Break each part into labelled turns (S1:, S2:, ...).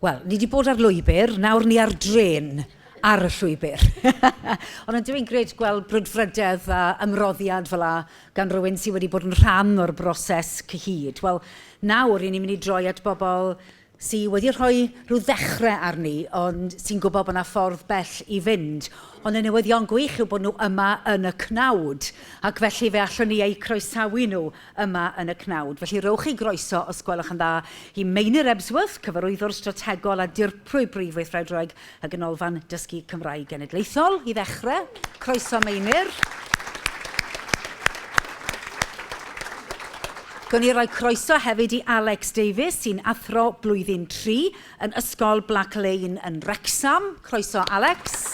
S1: Wel, ni 'di bod ar lwybr, nawr ni ar drên ar y llwybr. Ond yn dwi'n gred gweld brwdfrydedd a ymroddiad fel la gan rywun sydd wedi bod yn rhan o'r broses cyhyd. Wel, nawr, i ni'n mynd i droi at bobl sy wedi rhoi rhyw ddechrau arni ond sy'n gwybod bod 'na ffordd bell i fynd. Ond y newyddion gwych yw bod nhw yma yn y cnawd ac felly fe allwn ni eu croesawu nhw yma yn y cnawd. Felly rhowch eu groeso, os gwelwch yn dda, i Meinir Ebsworth, Cyfarwyddwr Strategol a Dirprwy Brif Weithredwraig y Ganolfan Dysgu Cymraeg Genedlaethol i ddechrau. Croeso Meinir. Gwn i roi croeso hefyd i Alex Davies sy'n athro blwyddyn 3 yn Ysgol Black Lane yn Wrecsam. Croeso Alex.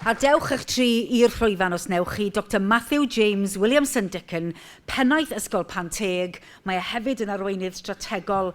S1: A dewch eich tri i'r llwyfan os newch chi, Dr Matthew James Williamson Dickon, pennaeth Ysgol Panteg. Mae e hefyd yn arweinydd strategol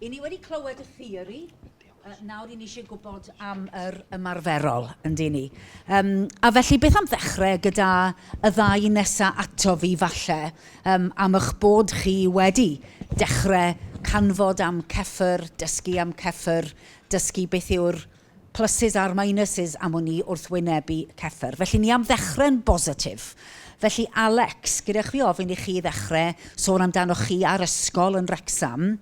S1: I ni wedi clywed y theori, nawr i ni eisiau gwybod am yr ymarferol, yn di ni. Um, a felly, beth am ddechrau gyda y ddau nesaf ato fi, falle, um, am eich bod chi wedi dechrau canfod am ceffyr, dysgu am ceffyr, dysgu beth yw'r pluses a'r minuses am wn i wrth wynebu Cefr. Felly ni am ddechre'n bositif. Felly Alex, gyda chwi ofyn i chi ddechrau sôn amdanoch chi a'r ysgol yn Wrecsam,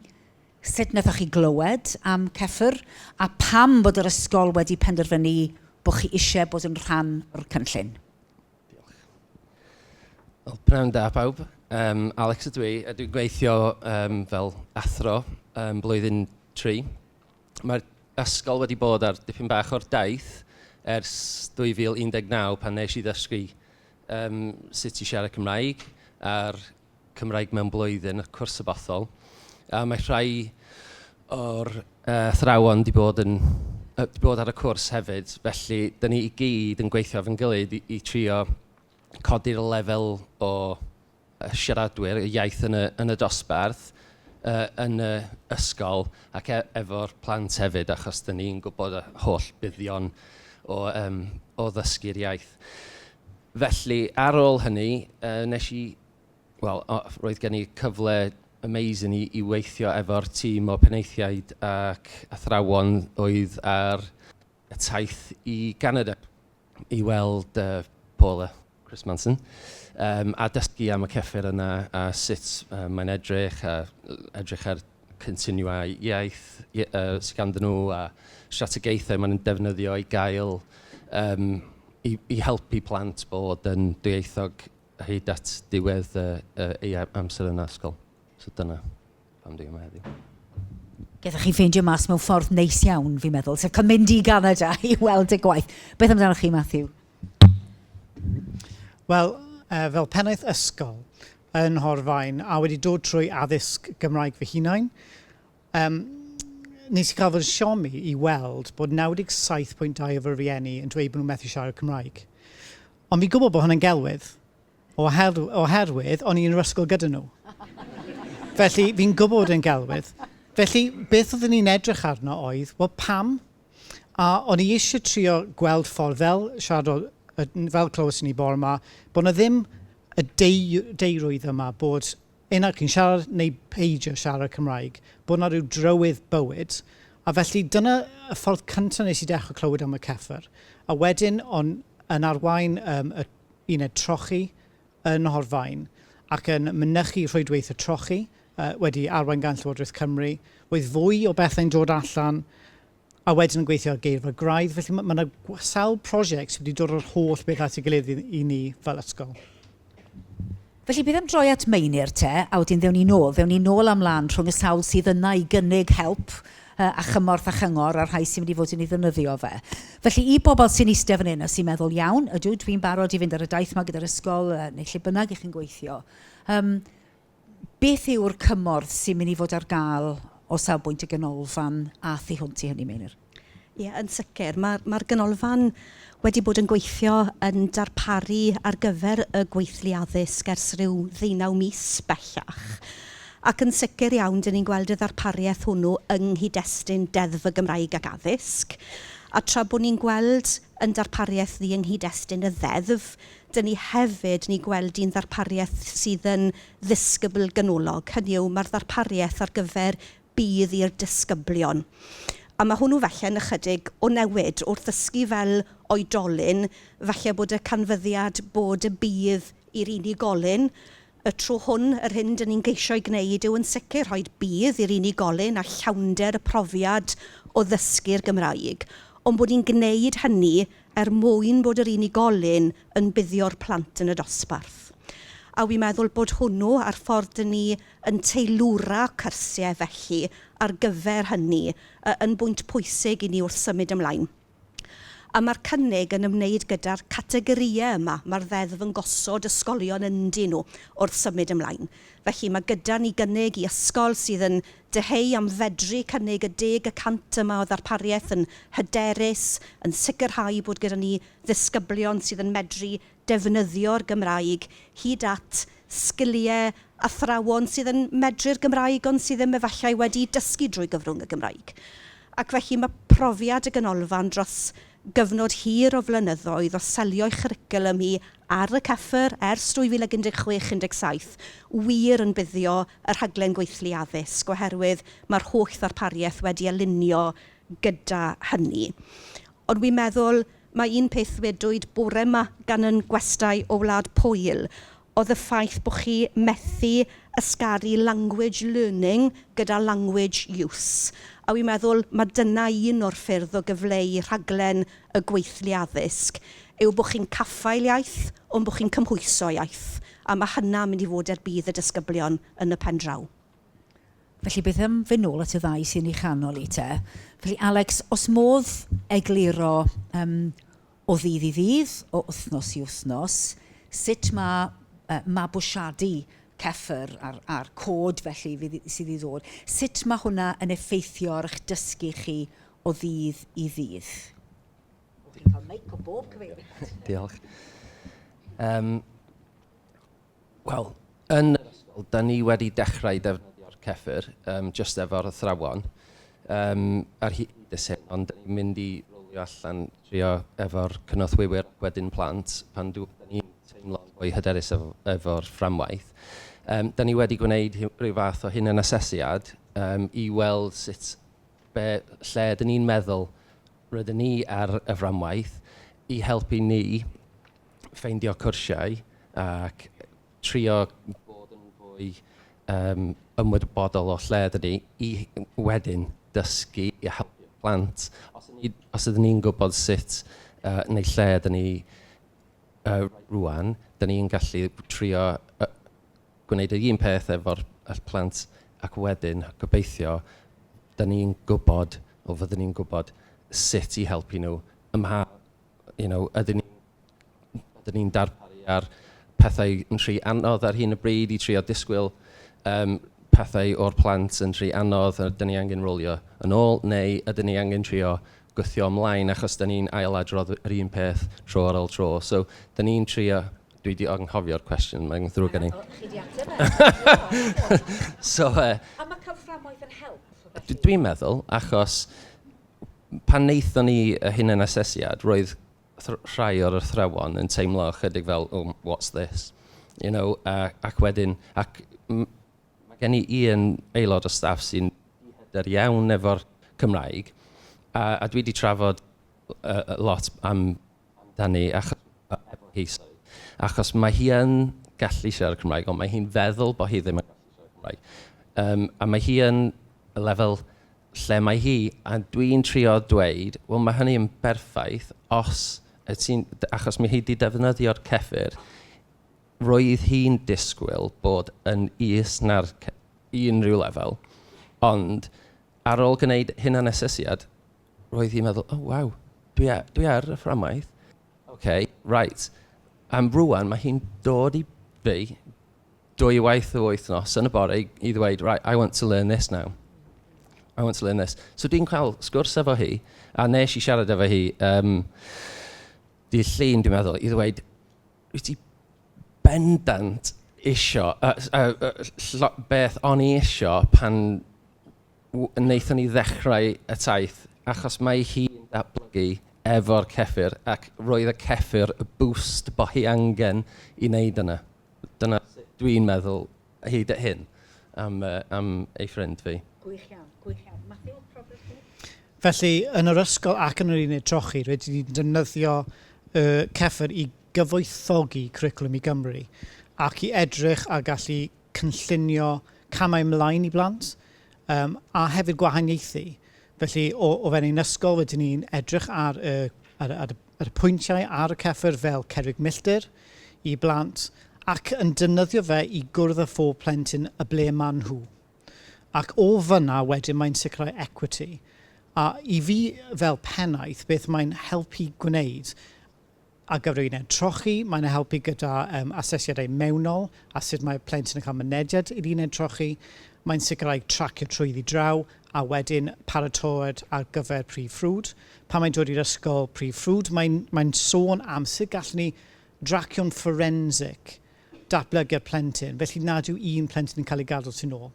S1: sut nathoch chi glywed am Cefr a pam bod yr ysgol wedi penderfynu bod chi eisiau bod yn rhan o'r cynllun? Wel, pnawn da pawb. Um, Alex ydw i, a dwi'n gweithio um, fel athro um, blwyddyn tri. Mae'r ysgol wedi bod ar dipyn bach o'r daith ers 2019 pan wnes i ddysgu yym sut i siarad Cymraeg a'r Cymraeg Mewn Blwyddyn, y cwrs y bothol. A mae rhai o'r yy athrawon 'di bod yn yy 'di bod ar y cwrs hefyd, felly dan ni i gyd yn gweithio efo'n gilydd i i trio codi'r lefel o... siaradwyr y iaith yn y yn y dosbarth, yy yn y ysgol ac e- efo'r plant hefyd achos dan ni'n gwybod y holl buddion o yym o ddysgu'r iaith. Felly ar ôl hynny yy wnes i wel o- roedd gen i cyfle amazing i i weithio efo'r tîm o penaethiaid ac athrawon oedd ar y taith i Ganada. i weld yy Paul a Chris Manson yym a dysgu am y cyffur yna a sut yy mae'n edrych a edrych ar cynlluniau iaith yy sy ganddyn nhw a strategaethau maen nhw'n defnyddio i gael yym i i helpu plant bod yn dwyieithog hyd at diwedd yy eu amser yn yr ysgol. So dyna. Pam dwi yma heddiw? Gethwch chi ffeindio mas mewn ffordd neis iawn, fi'n meddwl, sef cael mynd i Ganada i weld y gwaith. Beth amdanoch chi, Matthew? Wel, uh, fel pennaeth ysgol yn Horfain, a wedi dod trwy addysg Gymraeg fy hunain, um, nes i gael fod yn siomi i weld bod 97.2 o fy rhieni yn dweud bod nhw'n methu siarad Cymraeg. Ond fi'n gwybod bod hwnna'n gelwydd. oherwydd o'n i yn yr ysgol gyda nhw. Felly, fi'n gwybod ein gelwydd. Felly, beth oeddwn i'n edrych arno oedd, wel, pam? A o'n i eisiau trio gweld ffordd, fel siaradodd, fel clywes ni bore yma, bod yna ddim y deirrwydd yma bod un o'r chi'n siarad neu peidio siarad Cymraeg, bod yna rhyw drywydd bywyd. A felly, dyna y ffordd cyntaf nes i dechrau clywed am y Cefr. A wedyn, o'n yn arwain y uned trochi yn Nhorfaen ac yn mynychu rhwydweithio trochi wedi arwain gan Llywodraeth Cymru. Roedd fwy o bethau'n dod allan a wedyn yn gweithio ar geirfa graidd. Felly mae yna sawl prosiect sydd wedi dod yr holl beth at ei gilydd i ni fel ysgol. Felly, bydd e'n droi at Meinir te, a wedyn ddewn ni nôl, ddewn ni nôl a mlan rhwng y sawl sydd yna i gynnig help yy a chymorth a chyngor a'r rhai sy'n mynd i fod yn ei ddefnyddio fe. Felly, i bobl sy'n iste fan hyn a sy'n meddwl, iawn, ydw, dwi'n barod i fynd ar y daith 'ma gyda'r ysgol yy neu lle bynnag 'y chi'n gweithio, yym beth yw'r cymorth sy'n mynd i fod ar gael o safbwynt y ganolfan a thu hwnt i hynny, Meinir? Ie, yn sicr. Ma' ma'r Ganolfan wedi bod yn gweithio yn darparu ar gyfer y gweithlu addysg ers ryw ddeunaw mis bellach ac yn sicr iawn dan ni'n gweld y ddarpariaeth hwnnw yng nghyd-destun Deddf y Gymraeg ac Addysg a tra bod ni'n gweld ein darpariaeth ni yng nghyd-destun y Ddeddf, dan ni hefyd ni'n gweld hi'n ddarpariaeth sydd yn ddisgybl ganolog, hynny yw, ma'r ddarpariaeth ar gyfer bydd i'r disgyblion. A ma' hwnnw falle yn ychydig o newid wrth ddysgu fel oedolyn, falle bod y canfyddiad bod y bydd i'r unigolyn y tro hwn, yr hyn 'dyn ni'n geisio'i gwneud yw yn sicr rhoi'r bydd i'r unigolyn a llawnder y profiad o ddysgu'r Gymraeg, ond bod ni'n gwneud hynny er mwyn bod yr unigolyn yn buddio'r plant yn y dosbarth. A wi'n meddwl bod hwnnw a'r ffordd 'dyn ni yn teilwra cyrsiau felly ar gyfer hynny, yy yn bwynt pwysig i ni wrth symud ymlaen. A mae'r cynnig yn ymwneud gyda'r categorïau yma mae'r Ddeddf yn gosod ysgolion ynddyn nhw wrth symud ymlaen. Felly, mae gyda ni gynnig i ysgol sydd yn dyheu am fedru cynnig y deg y cant yma o ddarpariaeth yn hyderus, yn sicrhau bod gyda ni ddisgyblion sydd yn medru defnyddio'r Gymraeg, hyd at sgiliau athrawon sydd yn medru'r Gymraeg ond sydd ddim efallai wedi dysgu drwy gyfrwng y Gymraeg. Ac felly mae profiad y Ganolfan dros gyfnod hir o flynyddoedd o selio'i chwricwlwm hi ar y Cefr ers 2016 17 wir yn buddio y rhaglen gweithlu addysg oherwydd mae'r holl ddarpariaeth wedi alinio gyda hynny. Ond wi'n meddwl Mae un peth ddwedwyd bore 'ma gan yn gwestai o Wlad Pwyl oedd y ffaith bo chi methu ysgaru language learning gyda language use, a wi'n meddwl ma dyna un o'r ffyrdd o gyfleu rhaglen y gweithlu addysg yw bo chi'n caffael iaith ond bo chi'n cymhwyso iaith, a ma hynna mynd i fod er budd y disgyblion yn y pen draw. Felly beth am fyn' nôl at y ddau sy yn 'i chanol 'i te. Felly Alex, os modd egluro yym o ddydd i ddydd, o wthnos i wthnos, sut ma' yy mabwysiadu Cefr a'r a'r cod felly fydd i- sydd i ddod, sut ma' hwnna yn effeithio ar 'ych dysgu chi o ddydd i ddydd? O fi'n ca'l meic o bob cyfeiriad. Diolch. Yym. Wel, yn yr ysgol, dan ni wedi dechrau defnyddio'r Cefr, yym, jyst efo'r athrawon, yym, ar hyd y syn, ond dan ni'n mynd i rowlio allan, trio efo'r cynorthwywyr ac wedyn plant, pan dw- dan ni'n teimlo'n fwy hyderus efo efo'r fframwaith. Yym, dan ni wedi gwneud rhyw rhyw fath o hunanasesiad, yym, i weld sut, be, lle ydyn ni'n meddwl rydyn ni ar y fframwaith, i helpu ni ffeindio cwrsiau ac trio bod yn fwy yym ymwybodol o lle dyn ni i wedyn dysgu i helpu plant. Os ydyn ni os ydyn ni'n gwybod sut yy neu lle dyn ni yy rŵan, dyn ni'n gallu trio yy gwneud yr un peth efo'r efo'r plant ac wedyn gobeithio dyn ni'n gwybod, wel fyddan ni'n gwybod sut i helpu nhw ym mha you know, ydyn ni... ydyn ni'n darparu ar pethau yn rhy anodd ar hyn o bryd i trio disgwyl yym pethau o'r plant yn rhy anodd a ydyn ni angen rowlio yn ôl, neu ydyn ni angen trio gwthio ymlaen achos dan ni'n ailadrodd yr un peth tro ar ol tro. So dan ni'n trio... dwi 'di anghofio'r cwestiwn, mae'n ddrwg gen i. O, chi 'di ateb e. So yy... A ma' cael fframwaith yn help felly? Dwi'n meddwl, achos... Pan wnaethon ni y hunanasesiad, roedd rhai o'r athrawon yn teimlo ychydig fel oh, what's this? You know? A ac wedyn... Ac m- ma' gen i un aelod o staff sy'n ddihyder iawn efo'r Cymraeg a a dwi 'di trafod yy yy lot am amdani ach- a efo hi sori achos mae hi yn gallu siarad Cymraeg ond mae hi'n feddwl bod hi ddim yn gallu siarad Cymraeg yym a mae hi yn lefel lle mae hi, a dwi'n trio dweud, wel mae hynny yn berffaith os y ti'n... achos mae hi 'di defnyddio'r cefr, roedd hi'n disgwyl bod yn is na'r ce- i unrhyw lefel, ond ar ôl gwneud hunanasesiad, roedd hi'n meddwl, o waw, dwi a- dwi ar y fframwaith, ok, reit, yym rŵan mae hi'n dod i fi, dwywaith y wythnos yn y bore i i ddweud right I want to learn this now, I want to learn this. So dwi'n cael sgwrs efo hi a wnes i siarad efo hi yym dydd Llun dwi'n meddwl i ddweud wyt ti bendant isio yy s- yy yy ll- ll- beth o'n i isio pan w- wnaethon ni ddechrau y taith achos mae hi'n datblygu efo'r cefr ac roedd y cefr y boost bo' hi angen i wneud yna. Dyna sut dwi'n meddwl hyd at hyn am, uh, am ei ffrind fi. Gwych iawn, gwych iawn. Matthew, profiad chi? Felly, yn yr ysgol ac yn yr uned trochi, rydyn ni'n defnyddio uh, cefr i gyfoethogi cwricwlwm i Gymru ac i edrych a gallu cynllunio camau ymlaen i blant um, a hefyd gwahaniaethu. Felly, o, o fewn ein ysgol, rydyn ni'n edrych ar, uh, ar, ar, yr pwyntiau ar y cefr fel cerrig milltir i blant ac yn defnyddio fe i gwrdd â phob plentyn y ble maen nhw. Ac o fan'na wedyn mae'n sicrhau equity. A i fi fel pennaeth beth mae'n helpu gwneud ar gyfer yr uned trochi, mae'n e helpu gyda yym asesiadau mewnol a sut mae plentyn yn cael mynediad i'r uned trochi, mae'n sicrhau tracio trwyddi draw a wedyn paratoad ar gyfer prif ffrwd. pan mae'n dod i'r ysgol prif ffrwd, mae'n, mae'n sôn am sut gallwn ni dracio'n fforensig datblygiad plentyn, felly nad yw un plentyn yn cael ei gadw tu'n ôl.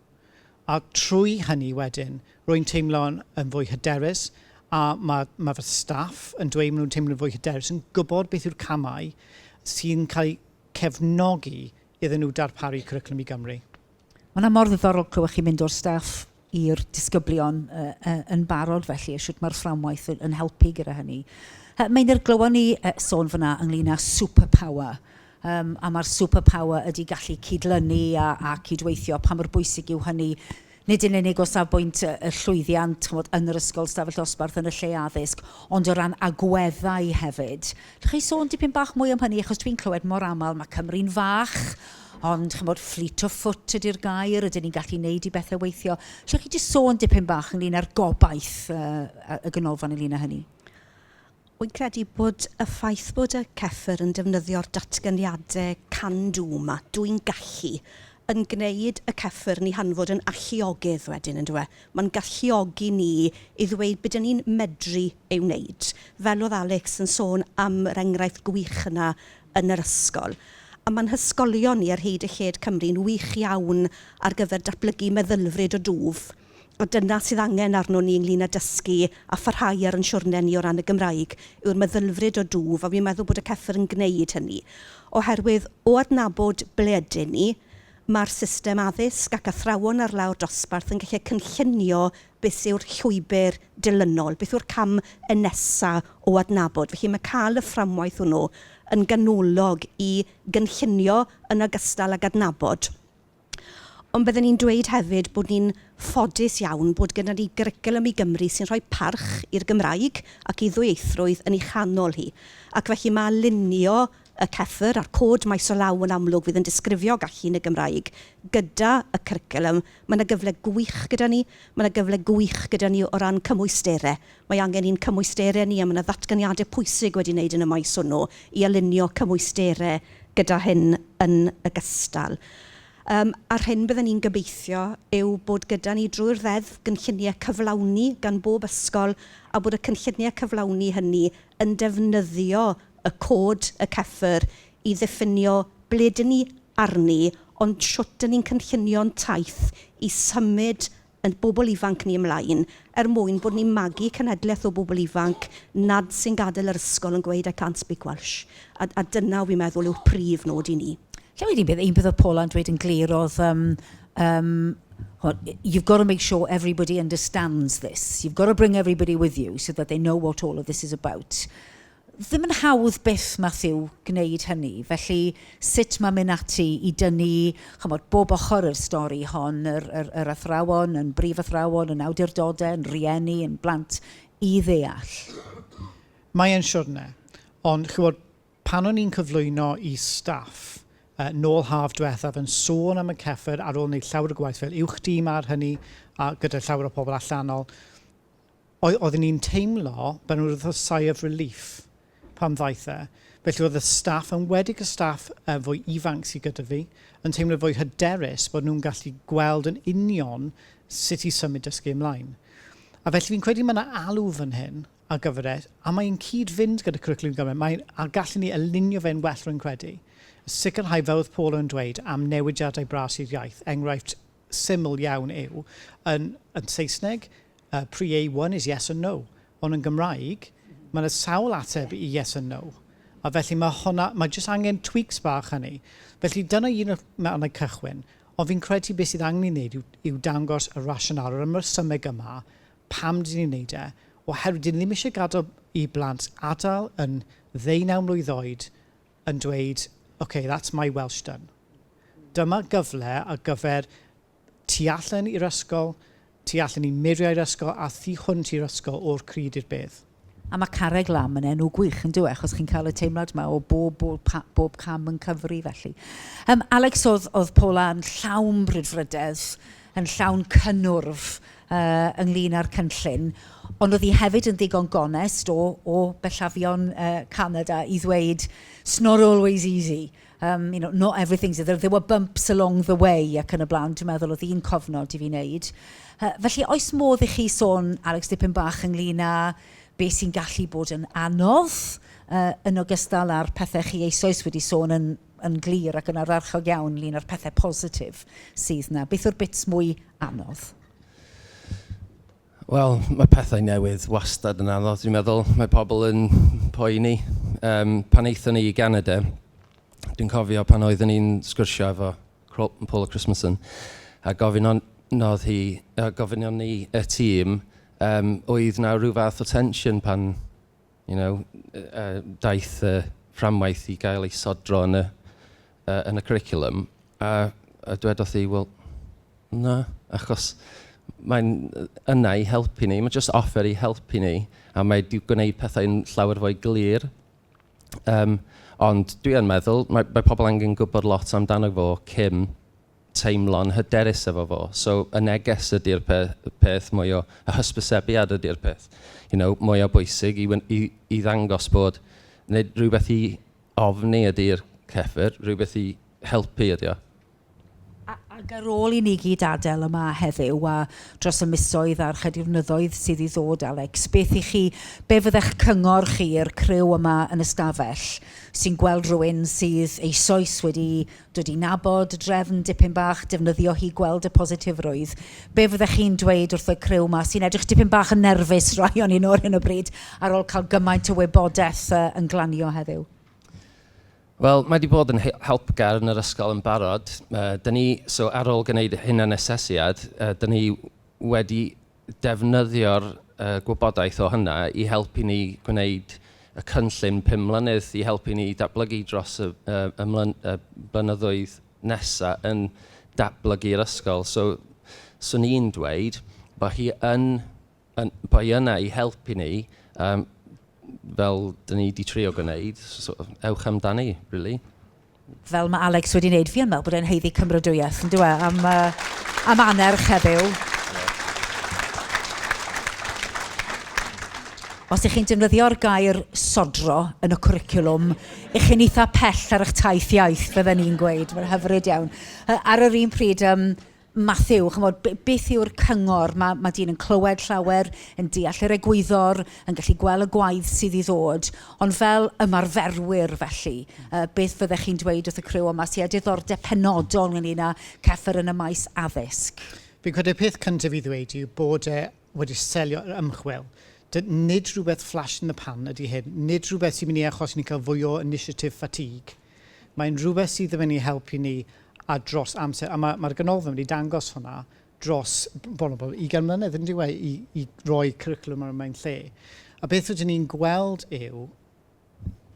S1: A trwy hynny wedyn, rwy'n teimlo'n yn fwy hyderus, a mae, mae fy staff yn dweud maen nhw'n teimlo'n fwy hyderus, yn gwybod beth yw'r camau sy'n cael eu cefnogi iddyn nhw darparu cwricwlwm i Gymru. Mae hwnna mor ddiddorol clywed chi'n mynd o'r staff i'r disgyblion yy yy yn barod felly a shwt mae'r fframwaith yn yn helpu gyda hynny. Yy Meinir glywon ni yy sôn fan'na ynglŷn â superpower yym a ma'r superpower ydi gallu cydlynu a a cydweithio pa mor bwysig yw hynny nid yn unig o safbwynt yy y llwyddiant ch'mod yn yr ysgol, 'stafell ddosbarth yn y lle addysg ond o ran agweddau hefyd Dach chi sôn dipyn bach mwy am hynny achos dwi'n clywed mor aml mae Cymru'n fach ond chymod fleet of foot ydy'r gair ydyn ni'n gallu neud i bethau weithio. Lle chi di sôn dipyn bach ynglyn â'r gobaith uh, y ganolfan ynglyn â hynny? Wy'n credu bod y ffaith bod y cefr yn defnyddio'r datganiadau can do yma, dwi'n gallu, yn gwneud y cefr ni hanfod yn alliogydd wedyn, yn dweud. Mae'n galluogi ni i ddweud be dan ni'n medru ei wneud. Fel oedd Alex yn sôn am yr enghraifft gwych yna yn yr ysgol. A mae'n hysgolion ni ar hyd a lled Cymru'n wych iawn ar gyfer datblygu meddylfryd o dwf. A dyna sydd angen arnon ni ynglŷn â dysgu a pharhau ar ein siwrne ni o ran y Gymraeg, yw'r meddylfryd o dwf, a fi'n meddwl bod y Cefr yn gwneud hynny. Oherwydd, o adnabod ble ydyn ni, Mae'r system addysg ac athrawon ar lawr dosbarth yn gallu cynllunio beth yw'r llwybr dilynol, beth yw'r cam yn nesa o adnabod. Felly mae cael y fframwaith hwnnw yn ganolog i gynllunio yn ogystal ag adnabod. Ond bydden i'n dweud hefyd bod ni'n ffodus iawn bod gyda ni Gyricwlwm i Gymru sy'n rhoi parch i'r Gymraeg ac i ddwyieithrwydd yn ei chanol hi. Ac felly mae alinio y cyffur a'r cod maes o law yn amlwg fydd yn disgrifio gallu yn y Gymraeg gyda y cwricwlwm. Mae yna gyfle gwych gyda ni. Mae yna gyfle gwych gyda ni o ran cymwysterau. Mae angen i'n cymwysterau ni, a mae yna ddatganiadau pwysig wedi wneud yn y maes hwnnw i alinio cymwysterau gyda hyn yn ogystal. Yym, a'r hyn bydden ni'n gobeithio yw bod gyda ni drwy'r Ddeddf gynlluniau cyflawni gan bob ysgol a bod y cynlluniau cyflawni hynny yn defnyddio y cod, y CEFR, i ddiffinio ble ydyn ni arni, ond shwt ydyn ni'n cynllunio'n taith i symud ein bobl ifanc ni ymlaen, er mwyn bod ni'n magu cenhedlaeth o bobl ifanc nad sy'n gadael yr ysgol yn gweud 'I can't speak Welsh', a a dyna wi'n meddwl yw'r prif nod i ni. Lle wedi bydd, un peth oedd Paula yn dweud yn glir oedd yym Yym, chimod, you've got to make sure everybody understands this, you've got to bring everybody with you so that they know what all of this is about. Ddim yn hawdd byth, Matthew, gwneud hynny. Felly, sut mae mynd ati i dynnu, chimod, bob ochr o'r stori hon, yr yr yr athrawon, yn brif athrawon, yn awdurdodau, yn rhieni, yn blant, i ddeall? Mae e'n siwrne. Ond, chimod, Pan o'n i'n cyflwyno i staff nôl haf dwethaf yn sôn am y cefr ar ôl wneud llawer o gwaith fel uwch dîm ar hynny a gyda llawer o pobl allanol, oedd, oedden ni'n teimlo fel ryw fath o sigh of relief pan ddaeth e. Felly oedd y staff, yn enwedig y staff fwy ifanc sy gyda fi, yn teimlo fwy hyderus bod nhw'n gallu gweld yn union sut i symud dysgu ymlaen. A felly fi'n credu mae yna alw fan hyn a gyfres, a mae'n cyd-fynd gyda Cwricwlwm Gymraeg, mae'n, a gallwn ni alinio fe'n well rwy'n credu, a sicrhau, fel oedd Paul yn dweud, am newidiadau bras i'r iaith, enghraifft syml iawn yw, yn, yn Saesneg, uh, pre-A1 is yes and no, ond yn Gymraeg, mae yna sawl ateb i yes and no, a felly mae hwnna, mae jyst angen tweaks bach hynny. Felly dyna un o'r mannau cychwyn, ond fi'n credu beth sydd angen ei wneud yw, yw dangos y rasional, yr ymrysymeg yma, Pam dyn ni'n wneud e? Oherwydd dyn ni ddim eisiau gadael i blant adael yn ddeunaw mlwydd oed yn dweud, ok, that's my Welsh done. Dyma gyfle ar gyfer tu allan i'r ysgol, tu allan i muriau'r ysgol a thu hwnt i'r ysgol o'r crud i'r bedd. A mae Carreg Lam yn enw gwych, yn dyw e, achos chi'n cael y teimlad yma o bob, bob, bob cam yn cyfri felly. Um, Alex, oedd, oedd Paula yn llawn brydfrydedd, yn llawn cynnwrf uh, ynglyn â'r cynllun, ond oedd hi hefyd yn ddigon gonest o, o bellafion uh, Canada i ddweud, it's not always easy, Yym, you know, not everything's... there there were bumps along the way ac yn y blaen, dwi'n meddwl oedd un cofnod i fi wneud. Yy felly, oes modd i chi sôn, Alex, dipyn bach ynglyn â be sy'n gallu bod yn anodd yy yn ogystal â'r pethe chi eisoes wedi sôn yn yn glir ac yn ardderchog iawn ynglyn â'r pethe positif sydd 'na. Beth yw'r bits mwy anodd? Wel, mae pethau newydd wastad yn anodd, dwi'n meddwl. Mae pobl yn poeni. Yym, pan aethon ni i Ganada, dwi'n cofio pan oeddwn i'n sgwrsio efo Cro- Paula Christmasson a gofyn o- nodd hi... yy gofynion ni y tîm yym oedd 'na ryw fath o tensiwn pan you know, uh, daeth y uh, fframwaith i gael ei sodro yn y, uh, yn y curriculum, a, a dwedodd hi, wel, na, achos mae'n yna i helpu ni, mae'n just offer i helpu ni, a mae wedi gwneud pethau'n llawer fwy glir. Um, ond dwi yn meddwl, mae, mae pobl angen gwybod lot amdano fo cyn teimlo'n hyderus efo fo. So y neges ydy'r pe- peth mwy o... y hysbysebiad ydy'r peth you know mwya' bwysig i wy- i i ddangos bod... nid rhywbeth i ofni ydy'r Cefr, rhywbeth i helpu ydy o. A- ac ar ôl i ni gyd adael yma heddiw a dros y misoedd a'r chydiwrnyddoedd sydd i ddod Alex, beth i chi... be fyddech cyngor chi i'r criw yma yn y stafell sy'n gweld rhywun sydd eisoes wedi Dw i'n nabod drefn dipyn bach, defnyddio hi, gweld y positifrwydd. Be fyddech chi'n dweud wrth y criw 'ma sy'n edrych dipyn bach yn nerfus rai o'n nhw ar hyn o bryd ar ôl cael gymaint o wybodaeth yy yn glanio heddiw? Wel, mae wedi bod yn helpgar yn yr ysgol yn barod. Yy dan ni... so ar ôl gwneud y hunanasesiad, yy dan ni wedi defnyddio'r gwybodaeth o hynna i helpu ni gwneud y cynllun pum mlynedd i helpu ni datblygu dros y blynyddoedd nesa' yn datblygu'r ysgol. So 'swn i'n dweud bod hi yn yn... bod hi yna i helpu ni yym fel dan ni 'di trio gwneud, so ewch amdani rili. fel mae Alex wedi wneud, fi yn meddwl bod e'n haeddu cymrodwyeth, yn dyw e, am, uh, am annerch heddiw. Os ych chi'n defnyddio'r gair sodro yn y cwricwlwm, ych chi'n eitha pell ar eich taith iaith, fydden ni'n gweud. Mae'n hyfryd iawn. Ar yr un pryd, um, Mathew, ch'mod, be- beth yw'r cyngor? Mae, mae dyn yn clywed llawer, yn deall yr egwyddor, yn gallu gweld y gwaith sydd i ddod, ond fel ymarferwyr felly, uh, beth fyddech chi'n dweud wrth y criw yma sydd â diddordeb penodol ynglyn â ceffer yn y maes addysg? Fi'n credu y peth cyntaf i ddweud yw bod e wedi selio yr ymchwil. Dy, nid rhywbeth flash in the pan ydy hyn, nid rhywbeth sy'n mynd i achos ni'n cael fwy o initiative fatigue. Mae'n rhywbeth sydd yn mynd i helpu ni a dros amser, a mae'r Ganolfan wedi dangos hwnna dros bron a bod ugain mlynedd, yn dyw e, i roi cwricwlwm ar y mae'n lle. A beth rydyn ni'n gweld yw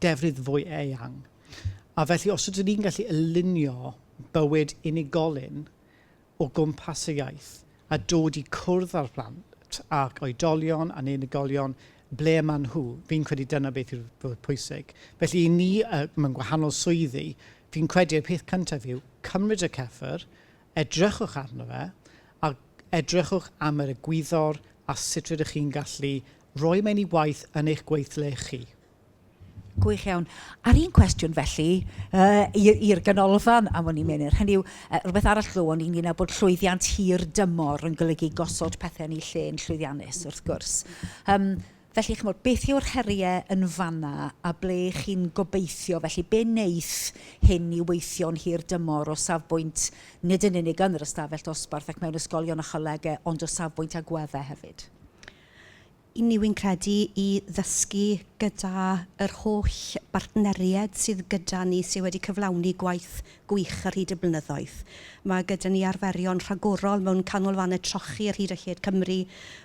S1: defnydd fwy eang. A felly, os ydyn ni'n gallu alinio bywyd unigolyn o gwmpas y iaith a dod i cwrdd â'r plant ac oedolion a'n unigolion ble y maen nhw. Fi'n credu dyna beth yw'r fwya pwysig. Felly i ni yy mewn gwahanol swyddi, fi'n credu y peth cyntaf yw cymryd y cyffur, edrychwch arno fe a edrychwch am yr egwyddor a sut rydych chi'n gallu roi mewn i waith yn eich gweithle chi. Gwych iawn. A'r un cwestiwn felly yy i- i'r Ganolfan am wn i Menir, hynny yw yy rywbeth arall glywon i ynglŷn â bod llwyddiant hir dymor yn golygu gosod pethe yn eu lle yn llwyddiannus wrth gwrs yym felly chimod beth yw'r herie yn fan'na a ble chi'n gobeithio felly be neith hyn i weithio'n hir dymor o safbwynt nid yn unig yn yr ystafell dosbarth ac mewn ysgolion a cholegau ond o safbwynt agwedde hefyd? Yn ni wy'n credu i ddysgu gyda yr holl bartneried sydd gyda ni sy wedi cyflawni gwaith gwych ar hyd y blynyddoedd. Mae gyda ni arferion rhagorol mewn canolfannau trochi ar hyd a lled Cymru,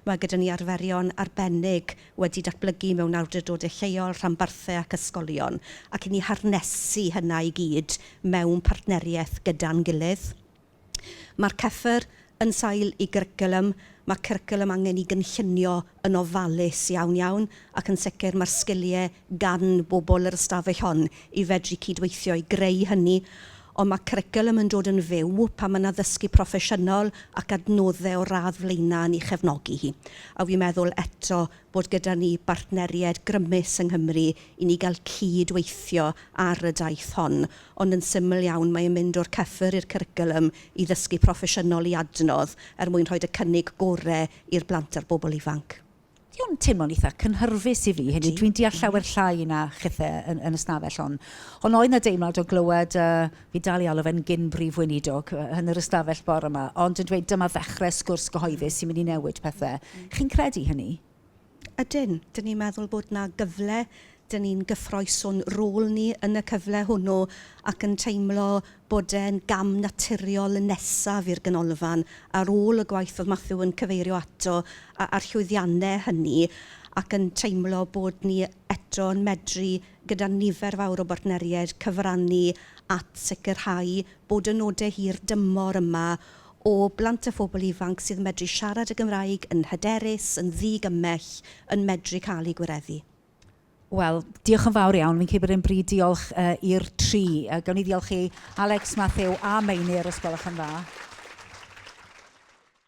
S1: mae gyda ni arferion arbennig wedi datblygu mewn awdurdodau lleol, rhanbarthau ac ysgolion, ac i ni harnesu hynna i gyd mewn partneriaeth gyda'n gilydd. Mae'r cyffur yn sail i gyrcwlwm, mae cyrcwlwm angen i gynllunio yn ofalus iawn iawn ac yn sicr mae'r sgiliau gan bobl yr ystafell hon i fedru cydweithio i greu hynny ond mae cyrcwlwm yn dod yn fyw pan mae 'na ddysgu proffesiynol ac adnoddau o'r radd flaenaf yn ei chefnogi hi a wi'n meddwl eto bod gyda ni bartneriaid grymus yng Nghymru i ni gael cyd-weithio ar y daith hon, ond yn syml iawn mae e'n mynd o'r cyffur i'r cwricwlwm i ddysgu proffesiynol i adnodd er mwyn rhoid y cynnig gorau i'r blant a'r bobl ifanc. Ydy o'n teimlo'n eitha' cynhyrfus i fi, hynny yw dwi'n deall llawer llai na chithe yn yn y stafell hon, ond oedd 'na deimlad o glywed y i dal ei alw fe'n gyn-Brif Weinidog yn yr ystafell bore 'ma, ond yn dweud dyma ddechrau sgwrs gyhoeddus sy'n mynd i newid pethe. Chi'n credu hynny? Ydyn. Dyn ni'n meddwl bod 'na gyfle, dyn ni'n gyffrous o'n rôl ni yn y cyfle hwnnw ac yn teimlo bod e'n gam naturiol nesaf i'r Ganolfan ar ôl y gwaith oedd Matthew yn cyfeirio ato a'r llwyddiannau hynny ac yn teimlo bod ni eto yn medru gyda nifer fawr o bartneriaid cyfrannu at sicrhau bod y nodau hir dymor yma o blant a phobl ifanc sydd yn medru siarad y Gymraeg yn hyderus, yn ddi-gymell, yn medru cael eu gwireddu. Wel, diolch yn fawr iawn. Fi'n credu bod e'n bryd diolch i'r tri. Gawn ni ddiolch i Alex, Matthew a Meinir, os gwelwch yn dda.